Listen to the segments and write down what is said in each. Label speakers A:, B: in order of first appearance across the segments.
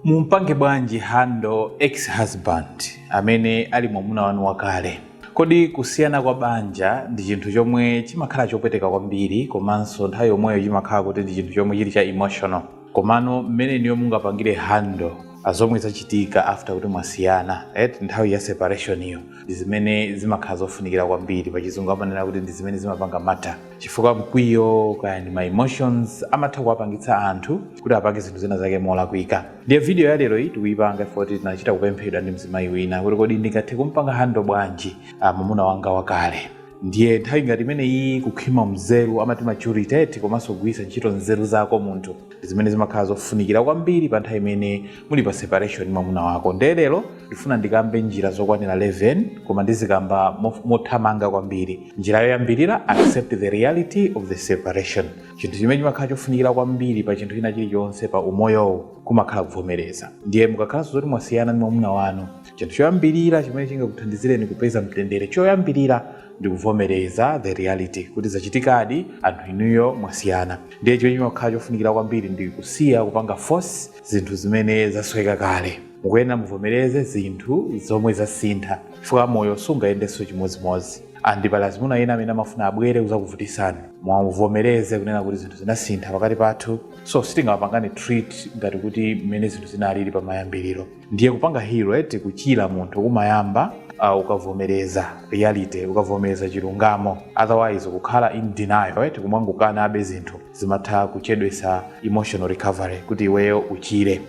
A: Mumpange bwanji handle ex husband amene ali mwamuna wanu wakale? Kodi kusiyana kwa banja ndi chinthu chomwe chimakhala chopweteka kwambiri komanso nthawi yomweyo chimakhala kuti ndi chinthu chomwe chili cha emotional? Komano mmene inuyo mungapangire handle pa zomwe zachitika after kuti mwasiyana eti nthawi ya separation yo ndi zimene zimakhala zofunikira kwambiri, pachizungu amanena kuti ndi zimene zimapanga matter. chifukwa mkwiyo kaya ndi ma emotions amatha kuwapangitsa anthu kuti apange zinthu zina zake molakwika ndiye video ya lero iyi tikuyipanga chifukwa kuti tinachita kupemphedwa ndi mzimayi wina kuti kodi ndingathe kumpanga handle bwanji ah, mwamuna wanga wakale ndiye nthawi ngati imeneyi kukhwima mzeru amati maturity komanso kugwiritsa ntchito nzeru zako munthu ndi zimene zimakhala zofunikira kwambiri pa nthawi imene muli pa separation ndi mwamuna wako nde lero ndifuna ndikambe njira zokwanira 11 koma ndizikamba mof- mothamanga kwambiri njira yoyambirira accept the reality of the separation chinthu chimene chimakhala chofunikira kwambiri pa chinthu china chilichonse pa umoyowu kumakhala kuvomereza ndiye mukakhalanso zoti mwasiyana ndi mwamuna wanu chinthu choyambirira chimene chingakuthandizireni kupeza mtendere choyambirira ndikuvomereza the reality kuti zachitikadi anthu inuyo mwasiyana ndiye chimene chimakhala chofunikira kwambiri ndi kusiya kupanga force zinthu zimene zasweka kale mukuyenera muvomereze zinthu zomwe zasintha chifukwa moyo sungayendenso chimodzimodzi and pali azimuna ena amene amafuna abwere kuzakuvutisani muvomereze kunena kuti zinthu zinasintha pakati pathu so sitingapangane treat ngati kuti mmene zinthu zinalili pamayambiriro ndiye kupanga heal eti kuchira munthu kumayamba uh, ukavomereza reality ukavomereza chilungamo otherwise kukhala in denial eti kumangokanabe zinthu zimatha kuchedwesa emotional recovery kuti iweyo uchire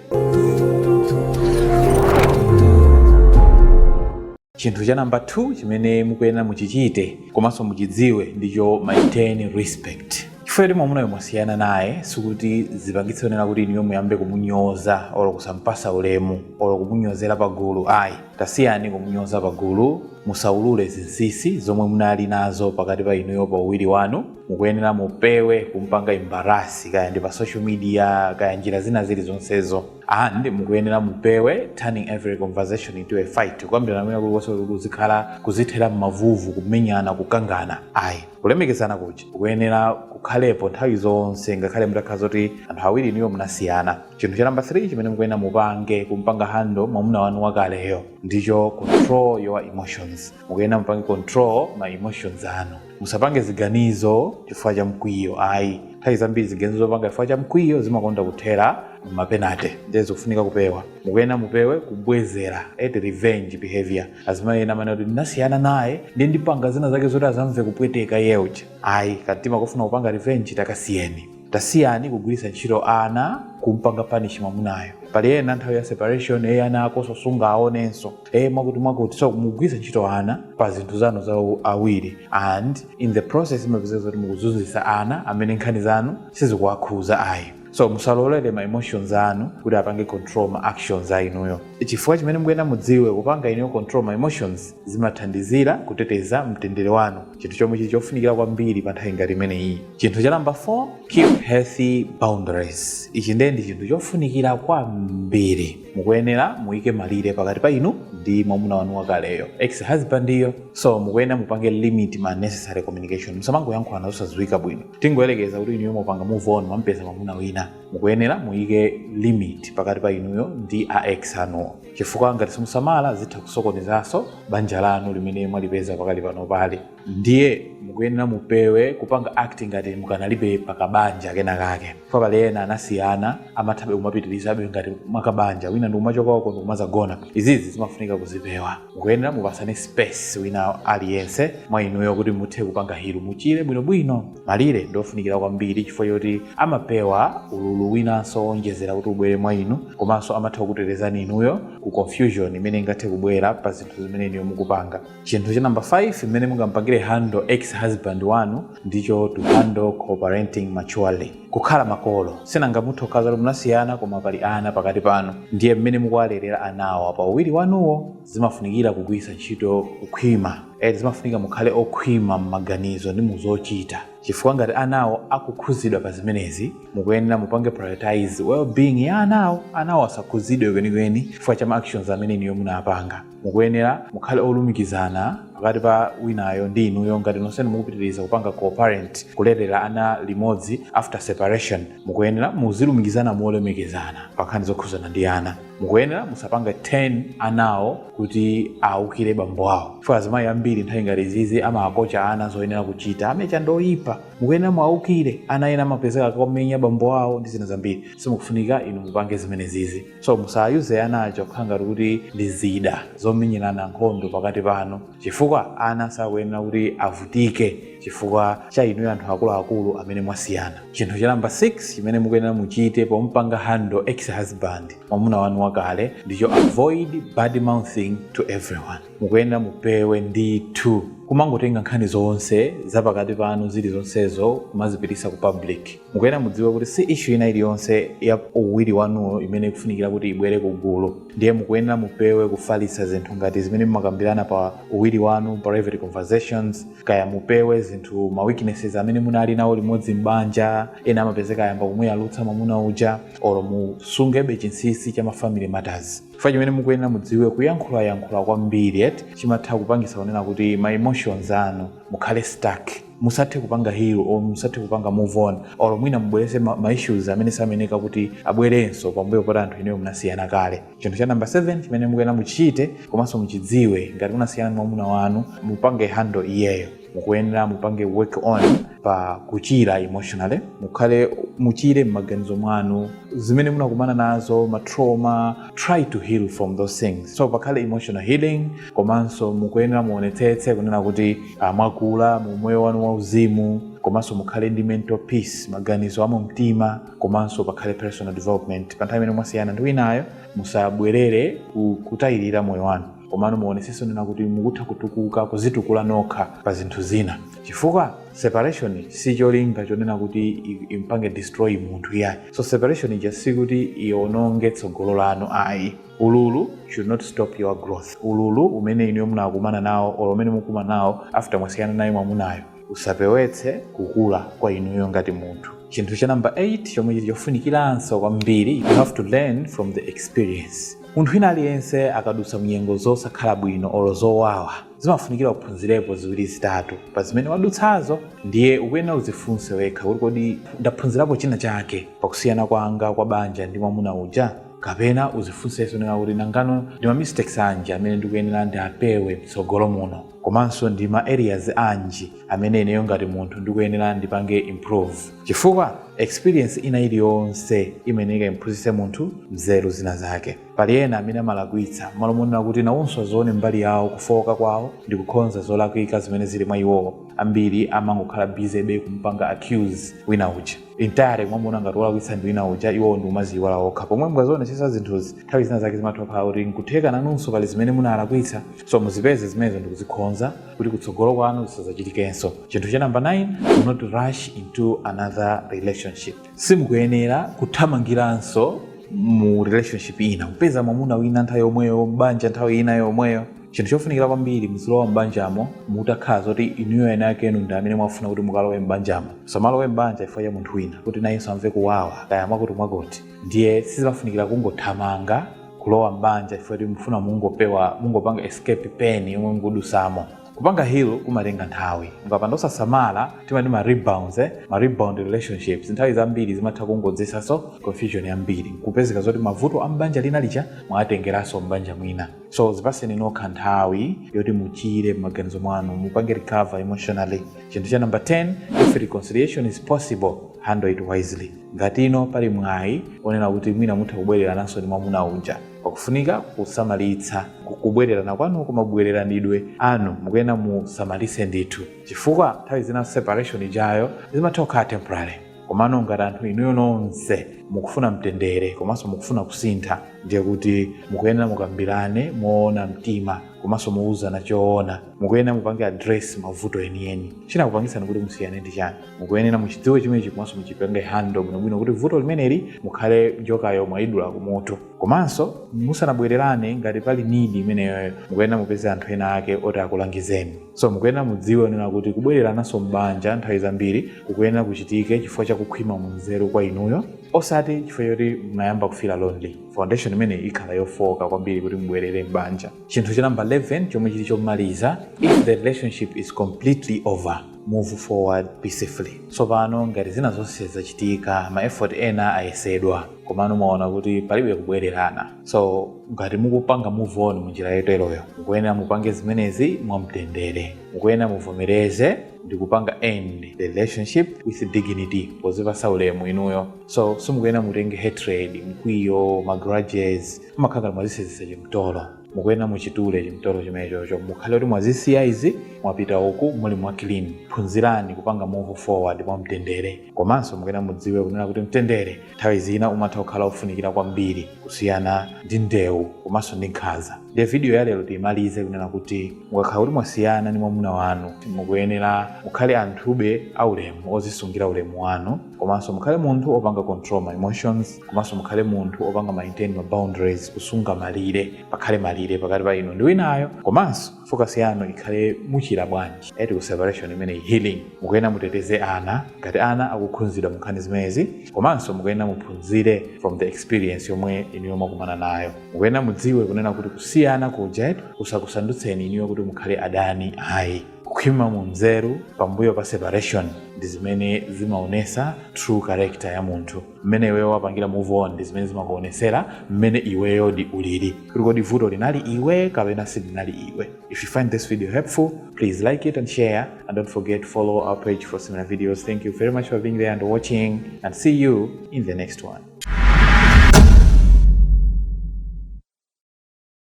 A: chinthu cha namba 2 chimene mukuyenera muchichite komanso muchidziwe ndicho maintain respect chifukwa kuti mwamunayo mwasiyana naye sikuti zipangitse zonena kuti inuyo muyambe kumunyoza olo kusampasa ulemu olo kumunyozera pagulu ayi tasiyani kumunyoza pagulu musaulule zinsisi zomwe munali nazo pakati pa inuyo pa uwiri wanu mukuyenera mupewe kumpanga embarrass kaya ndi pa social media kaya njira zina zili zonsezo and mukuyenera mupewe turning every conversation into a fight kukambirana mwina kulikonse kuti kuzikhala kuzithera m'mavuvu kumenyana kukangana ayi kulemekezana kuja kukuyenera kukhalepo nthawi zonse ngakhale mutakhala zoti anthu awiri inuyo munasiyana chinthu cha namba 3 chimene mukuyenera mupange kumpanga handle mwamuna wanu wakaleyo ndicho control your emotions mukuyenera mupange control ma emotions anu musapange ziganizo chifukwa cha mkwiyo ayi nthawi zambiri ziganizo zopanga chifukwa cha mkwiyo zimakonda kuthera mapenate ndiye zikufunika kupewa mukuyenera mupewe kubwezera eti revenge behavior azimayi ena amanena kuti ndinasiyana naye ndiye ndipanga zina zake zoti azamve kupweteka iye uja ayi kamtima kofuna kupanga revenge takasiyeni tasiyani kugwiritsa ntchito ana kumpanga punish mwamunayo pali ena nthawi ya separation eye ana ako sosunga aonenso eye mwakuti mwakuti so mugwiritsa ntchito ana pa zinthu zanu za awiri and in the process mapezeka zoti mukuzunzisa ana amene nkhani zanu sizikuwakhuza ayi so musalolere ma emotions anu kuti apange control ma actions a inuyo chifukwa chimene mukuyenera mudziwe kupanga inuyo control ma emotions zimathandizira kuteteza mtendere wanu chinthu chomwe chili chofunikira kwambiri pa nthawi ngati imeneyi chinthu cha namba 4 keep healthy boundaries ichi ndiye ndi chinthu chofunikira kwambiri mukuyenera muyike malire pakati pa inu ndi mwamuna wanu wakaleyo ex husband iyo so mukuyenera mupange limit unnecessary communication musamangoyankhulana zosadziwika bwino tingoyerekeza kuti inuyo mupanga move on mwampeza mwamuna wina mukuyenera muyike limit pakati pa inuyo ndi a ex anuwo chifukwa ngati simusamala zitha kusokonezanso banja lanu limene mwalipeza pakali pano pali ndiye mukuyenera mupewe kupanga acting ngati mukanalibe pakabanja kena kake chifukwa pali ena anasiyana amathabe kumapitirizabe ngati mwakabanja wina ndi kumachoka uko ndi kumazagona izizi zimafunika kuzipewa mukuyenera mupatsane space wina aliyense mwa inuyo kuti muthe kupanga heal muchire bwinobwino malire ndiofunikira kwambiri chifukwa choti amapewa ululu winanso wonjezera kuti ubwere mwa inu komanso amatha kukutetezani inuyo ku confusion imene ingathe kubwera pa zinthu zimene inuyo mukupanga chinthu cha namba 5 mmene mungampangire handle ex husband wanu ndicho to handle co-parenting maturely kukhala makolo sinanga mutha kukhala zoti munasiyana koma pali ana pakati panu ndiye mmene mukuwalerera anawo pa uwiri wanuwo zimafunikira kugwiritsa ntchito kukhwima eti zimafunika mukhale okhwima m'maganizo ndi muzochita chifukwa ngati anawo akukhudzidwa pa zimenezi mukuyenera mupange prioritize well-being ya anawo anawo asakhuzidwe kwenikweni chifukwa cha ma actions amene inuyo munapanga mukuyenera mukhale olumikizana pakati pa winayo ndi inuyo ngati nonsenu mukupitiriza kupanga co-parent kulerera ana limodzi after separation mukuyenera muzilumikizana molemekezana pa nkhani zokhuzana ndi ana mukuyenera musapange turn anawo kuti awukire bambo awo chifukwa azimayi ambiri nthawi ngati izizi amakocha ana zoyenera kuchita a Mecha ndi oyipa mukuyenera mwawukire ana ena amapezeka akumenya bambo awo ndi zina zambiri simukufunika inu mupange zimenezizi so musayuze ana aja kukhala ngati kuti ndi zida zomenyerana nkhondo pakati panu chifukwa ana sakuyenera kuti avutike chifukwa cha inuyo anthu akuluakulu amene mwasiyana chinthu cha namba 6 chimene mukuyenera muchite pompanga handle ex husband mwamuna wanu wakale ndicho avoid bad mouthing to everyone mukuyenera mupewe ndithu kumangotenga nkhani zonse zapakati panu zili zonsezo kumazipitisa ku public mukuyenera mudziwe kuti si ishu ina iliyonse ya uwiri wanuyo imene ikufunikira kuti ibwere ku gulu ndiye mukuyenera mupewe kufalitsa zinthu ngati zimene mumakambirana pa uwiri wanu private conversations kaya mupewe zinthu ma weaknesses amene munali nawo limodzi m'banja ena amapezeka ayamba kumuyalutsa mwamuna uja olo musungebe chinsinsi cha mafamily matters chifukwa chimene mukuyenera mudziwe kuyankhulayankhula kwambiri eti chimatha kupangisa kunena kuti ma emotions anu mukhale stuck musathe kupanga heal or musathe kupanga move on or mwina mubwerese ma, ma issues amene sameneka kuti abwerenso pambuyo poti anthu inuyo munasiyana kale chinthu cha namba 7 chimene mukuyenera muchite komanso muchidziwe ngati munasiyana ndi mwamuna wanu mupange handle iyeyo mukuyenera mupange work on pa kuchira emotionally mukhale muchire m'maganizo mwanu zimene munakumana nazo matrauma try to heal from those things so pakhale emotional healing komanso mukuyenera muonetsetse kunena kuti mwakula mu moyo wanu wauzimu komanso mukhale ndi mental peace maganizo a mumtima komanso pakhale personal development pa nthawi imene mwasiyana ndi winayo musabwerere ku- kutayirira moyo wanu komano muonetsetse kunena kuti mukutha kutukuka kuzitukula nokha pa zinthu zina chifukwa separation si cholinga chonena kuti i- impange destroy munthu iyayi so separation ija sikuti iononge tsogolo lanu ayi Ululu should not stop your growth. Ululu umene inuyo munakumana nawo or umene mukukumana nawo after mwasiyana naye mwamunayo usapewetse kukula kwa inuyo ngati munthu. Chinthu cha number 8 chomwe chili chofunikiranso kwambiri, you have to learn from the experience. Munthu wina aliyense akadutsa munyengo zosakhala bwino or zowawa zimafunikira uphunzirepo ziwiri zitatu pa zimene wadutsazo, ndiye ukuyenera udzifunse wekha kuti kodi ndaphunzirapo china chake pakusiyana kwanga kwa banja ndi mwamuna uja? Kapena udzifunsenso kunena kuti, nangano ndi ma mistakes anji amene ndikuyenera ndiapewe mtsogolo muno? Komanso ndi ma areas anji amene ineyo ngati munthu ndikuyenera ndipange improve? Chifukwa experience ina iliyonse imeneka imphunzitse munthu nzeru zina zake. Pali ena amene amalakwitsa, mmalo monena kuti nawonso azione mbali yawo, kufooka kwawo ndi kukhonza zolakwika zimene zili mwa iwowo, ambiri amangokhala busybe kumupanga accuse wina uja. entirely mwamuna ngati wolakwitsa ndi wina uja iwowo nkumaziyiwala okha pomwe mukazionesesa zinthuzi nthawi zina zake zimatha kukhala kuti nkutheka nanunso pali zimene munalakwitsa so muzipeze zimenezo ndikuzikhonza kuti kutsogolo kwanu zisazachitikenso chinthu cha namba 9 do not rush into another relationship simukuyenera kuthamangiranso mu relationship ina kupeza mwamuna wina nthawi yomweyo mbanja nthawi ina yomweyo chinthu chofunikira kwambiri muzilowa m'banjamo mutakhala zoti inuyo ena ake inu ndi amene mwafuna kuti mukalowe m'banjamo musamalowe m'banja chifukwa cha munthu wina kuti nayenso amve kuwawa kaya mwakuti mwakuti ndiye sizimafunikira kungothamangira kulowa m'banja chifukwa kuti mufuna mungopewa mungopanga escape pain yomwe mukudusamo kupanga heal kumatenga nthawi mukapanda osasamala timati ma rebounds eh? ma rebound relationships nthawi zambiri zimatha kungodzetsanso confusion yambiri kupezeka zoti mavuto a m'banja lina lija mwatengeranso m'banja lina so zipaseni nokha nthawi yoti muchire m'maganizo mwanu mupange recover emotionally chinthu cha number 10 if reconciliation is possible handle it wisely ngati ino pali mwayi onena kuti mwina mutha kubwererananso ndi mwamuna uja pakufunika kusamalitsa ku- kubwererana kwanu kumabwereranidwe anu mukuyenera musamalitse ndithu chifukwa nthawi zina separation ijayo zimatha kukhala temporary komano ngati anthu inuyo nonse mukufuna mtendere komanso mukufuna kusintha ndiye kuti mukuyenera mukambirane moona mtima komanso muuzane choona mukuyenera mupange address mavuto enieni chinakupangitsani kuti musiyane ndi chani mukuyenera muchidziwe chimenechi komanso muchipange handle bwinobwino kuti vuto limeneli mukhale njokayo mwayidula kumutu komanso musanabwererane ngati pali need imeneyoyo mukuyenera mupeze anthu ena ake oti akulangizeni so mukuyenera mudziwe kunena kuti kubwererananso m'banja nthawi zambiri kukuyenera kuchitike chifukwa cha kukhwima mu nzeru kwa inuyo osati chifukwa choti munayamba kufila lonely foundation imeneyi ikhala yofooka kwambiri kuti mubwerere m'banja chinthu cha namba 11 chomwe chili chomaliza if the relationship is completely over move forward peacefully tsopano ngati zina zonse zachitika ma effort ena ayesedwa komano mwaona kuti palibe kubwererana so ngati mukupanga move on munjira yoteroyo mukuyenera mupange zimenezi mwamtendere mukuyenera muvomereze ndikupanga end the relationship with dignity pozipasa ulemu inuyo so simukuyenera mutenge hatred mkwiyo magrudges mumakhala ngati mwazisenzesa chimtolo mukuyenera muchitule chimtolo chimenechocho mukhale kuti mwazisiya izi mwapita uku muli mwa clean phunzirani kupanga move forward mwamtendere komanso mukuyenera mudziwe kunena kuti mtendere nthawi zina umatha kukhala ofunikira kwambiri kusiyana ndi ndewu komanso ndi nkhanza ndiye vidiyo ya lero tiyimalize kunena kuti mukakhala kuti mwasiyana ndi mwamuna wanu mukuyenera mukhale anthube aulemu ozisungira ulemu wanu komanso mukhale munthu opanga control ma emotions komanso mukhale munthu opanga maintain ma boundaries kusunga malire pakhale malire pakati pa inu ndi winayo komanso focus yanu ikhale muchira bwanji eti ku separation imeneyi healing mukuyenera muteteze ana ngati ana akukhunzidwa munkhani zimenezi komanso mukuyenera muphunzire from the experience yomwe inuyo mwakumana nayo mukuyenera mudziwe kunena kuti kusiyana kuja kusakusandutseni inuyo kuti mukhale adani ayi kukhwima mu nzeru pambuyo pa separation ndi zimene zimaonesa true character ya munthu mmene iweyo wapangira move on ndi zimene zimakuonesera mmene iweyodi ulili kuti kodi vuto linali iwe kapena silinali iwe if you find this video helpful please like it and share and don't forget to follow our page for similar videos thank you very much for being there and watching and see you in the next one